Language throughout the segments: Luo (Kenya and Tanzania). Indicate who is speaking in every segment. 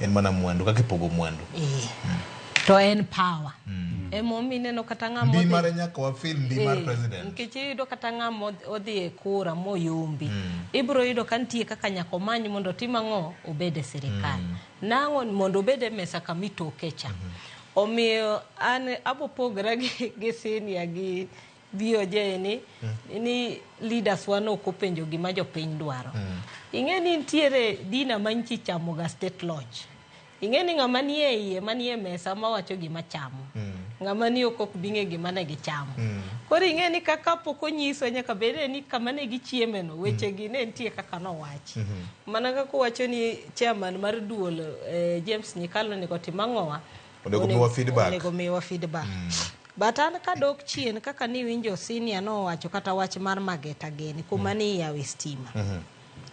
Speaker 1: en mana mwandu kaka ipogo mwandu eh. mm. to
Speaker 2: en power mm. emomiyo ineno kata ng'ama ndi mare nyaka wafil
Speaker 1: ndi mar eh, president nikech iyudo kata
Speaker 2: ng'ama odhi e kura moyombi mm. ibiro yudo ka nitie kaka nyaka omany mondo otim ang'o obed e sirikal mm. nang'o mondo obed e mesa kama itoke cha mm -hmm. omiyo an abopogora gi, gi sinia gi BOJ ni ni leaders wa no kopenjo gima jopiny dwaro. Ing'e ni nitiere dina ma nchi chamo ga state lodge. Ing'e ni ng'ama nie iye manie mesa ma wacho gima chamo. Ng'ama ni oko ok bing'e gima ne gichamo. Koro ing'e ni kaka pok onyiswa nyaka bed ni kama ne gichieme no weche gi ne nitie kaka nowach. Mana kaka uwacho ni chairman mar duol eh, James Nyikalo onego otim ang'owa. Onego miwa feedback. Onego miwa feedback. Mm. But an kadok chien kaka niwinjo senior nowacho kata wach mar Mageta Geni kuma mm. ni yawe stima. Mm -hmm.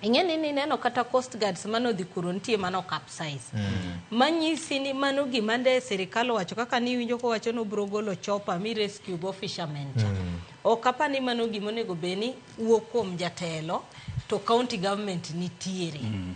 Speaker 2: ing'e ni nineno kata coast guards mane odhi kuro nitie mane okapsize mm. manyisi ni mano gima nde sirikal owacho kaka niwinjo kowacho ni obiro golo chopa mi rescue go fishermen cha mm. ok apa ni mano gima onego bed ni wuok kuom jatelo to county government nitiere mm.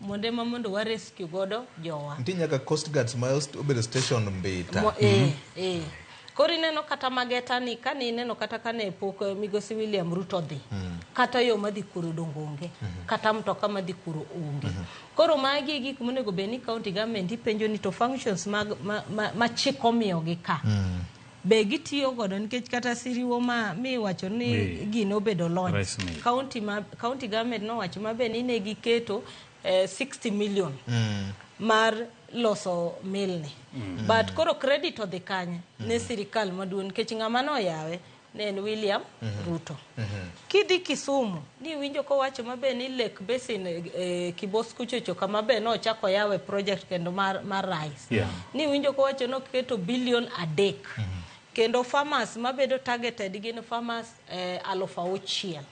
Speaker 2: Monde ma mondo wa rescue godo jowa. Nti nyaka Coast Guard
Speaker 1: Smile obedo station mbita. Mo, eh, mm -hmm. eh.
Speaker 2: Koro ineno kata mageta ni kane ineno kata kane pok eh, migosi William Ruto dhi mm -hmm. kata yo madhi kuro dongo onge mm -hmm. kata mtoka madhi kuro onge mm -hmm. koro magi e gik monego bed ni county government ipenjo ni to functions mag ma, ma, ma chik omiyogi ka mm -hmm. be gitiyo godo nikech kata siriwo ma mi wacho ni Mi- gino obedo launch Rice mill. county ma county government nowacho mabe ni ne giketo eh, 60 million mar loso milni but koro credit odhi kanye ne sirikal maduong' nikech ng'ama noyawe ne en William Ruto Kidhi Kisumu niwinjo kowacho maber ni Lake Basin e, e Kibos kuchocho kama be nochako yawe project kendo mar, mar rice. Yeah. Niwinjo kowacho noketo bilion adek. Kendo farmers mabedo targeted gin farmers eh, aluf auchiel.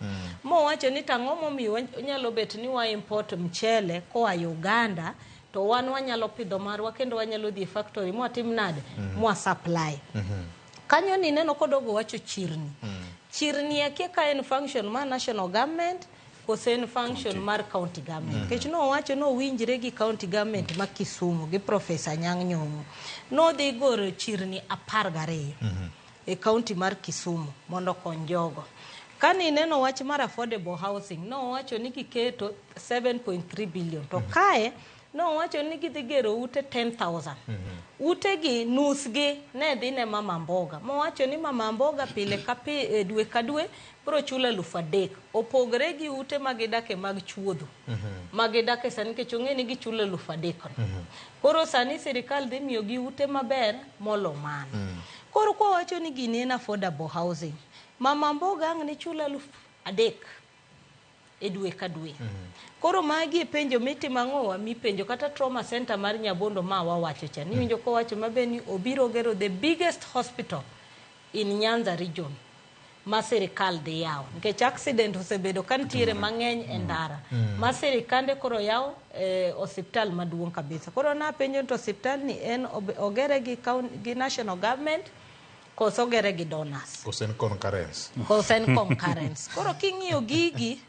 Speaker 2: Mowacho ni tang'o momiyo wa- nyalo bet ni wa import mchele koa Uganda to wan wanyalo pidho marwa kendo wanyalo dhi e factory mwatim nade? Mwa supply. Kanyo ni neno kodogo wacho chirni. Mm. Chirni akia ka en function ma national government kose en function county. mar county government. Mm. Kech no wacho no winjre gi county government mm. ma Kisumu gi Professor Nyang' Nyong'o. No dhi goro chirni apar gariyo mm -hmm. e county mar Kisumu mondo kony jogo. Kani neno wach mar affordable housing no wacho ni giketo 7.3 billion to mm. kae Nowacho ni gidhi gero ute 10,000. Utegi nusgi ne dhi ne Mama Mboga. Mowacho ni Mama Mboga pile ka pi, e, dwe ka dwe biro chulo alufu adek. Opogre gi ute ma gidake mag chuodho ma gidake sani nikech ong'e ni gichulo alufu adekno. Koro sani sirikal dhi miyogi ute maber molo mano. Koro kwawacho ni gini en affordable housing, Mama Mboga ang' ne chul alufu adek. e dwe ka dwe. Koro magi e penjo mitimo ang'owa mipenjo kata trauma center mar Nyabondo ma wawacho cha. Niwinjo kowacho mabe ni obiro gero the biggest hospital in Nyanza region ma sirikal dhi yawo nikech accident osebedo ka nitiere mang'eny e ndara ma sirikande koro yawo eh, osiptal maduong' kabisa. Koro napenjo ni to osiptalni en ob- ogere gi, coun- gi national government Koso ogere gi donors. Koso en concurrence.
Speaker 1: Koso en concurrence.
Speaker 2: Koro king'iyo gigi,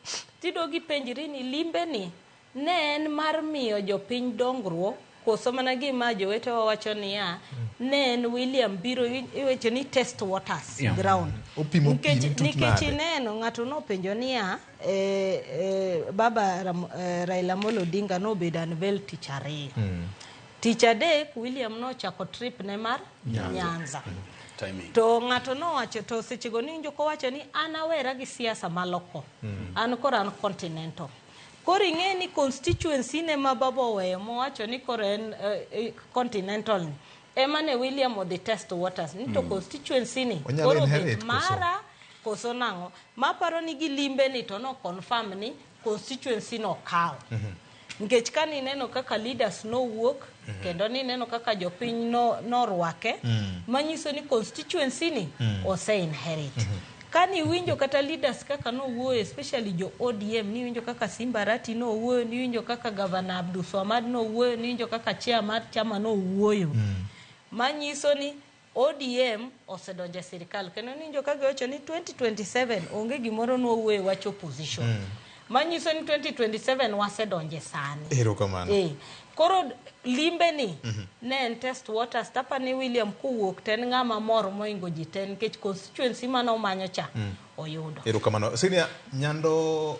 Speaker 2: tido gi penjiri ni limbe ni ne en mar miyo jopiny dongruok koso mana gima jowete wawacho niya ne en William biro iweche ni test waters yeah. ground opimo nikech nikech ineno ng'ato nopenjo niya e, e, baba Ram, e, Raila Amolo Odinga nobedo unveil tich ariyo mm. tich adek William nochako trip ne mar Nyanza. Nyanza. Timing. To ng'ato nowacho to sechego ninjo kowacho ni an awera gi siasa maloko. An koro an continental. Koro ing'e ni constituency ne ma baba oweyo mowacho ni koro en eh, eh, continental ni. Ema ne William odhi test waters. Ni to constituency ni Onyalo koro be inherit koso? mara koso nang'o. Maparo ni gilimbe ni to no confirm ni constituency no kawo nikech ka nineno kaka leaders nowuok kendo nineno kaka jopiny no- norwake manyiso ni constituency ni ose inherit ka niwinjo kata leaders kaka nowuoyo especially jo odm niwinjo kaka simba rati nowuoyo niwinjo kaka gavana abduswamad nowuoyo niwinjo kaka chair mar chama nowuoyo manyiso ni ODM osedonjo e sirkal kendo ninjo ka giwacho ni 2027 onge gimoro ni wawuoye wach opposition. Mm. Manyiso ni 2027 wasedonje sani. Ero kamano. Eh.
Speaker 1: Koro
Speaker 2: limbe ni mm -hmm. ne en test waters tapa ni William kuwuok ten ng'ama mor moingo ji ten nikech constituency mane omanyo cha mm. oyudo.
Speaker 1: Ero
Speaker 2: kamano. Senior Nyando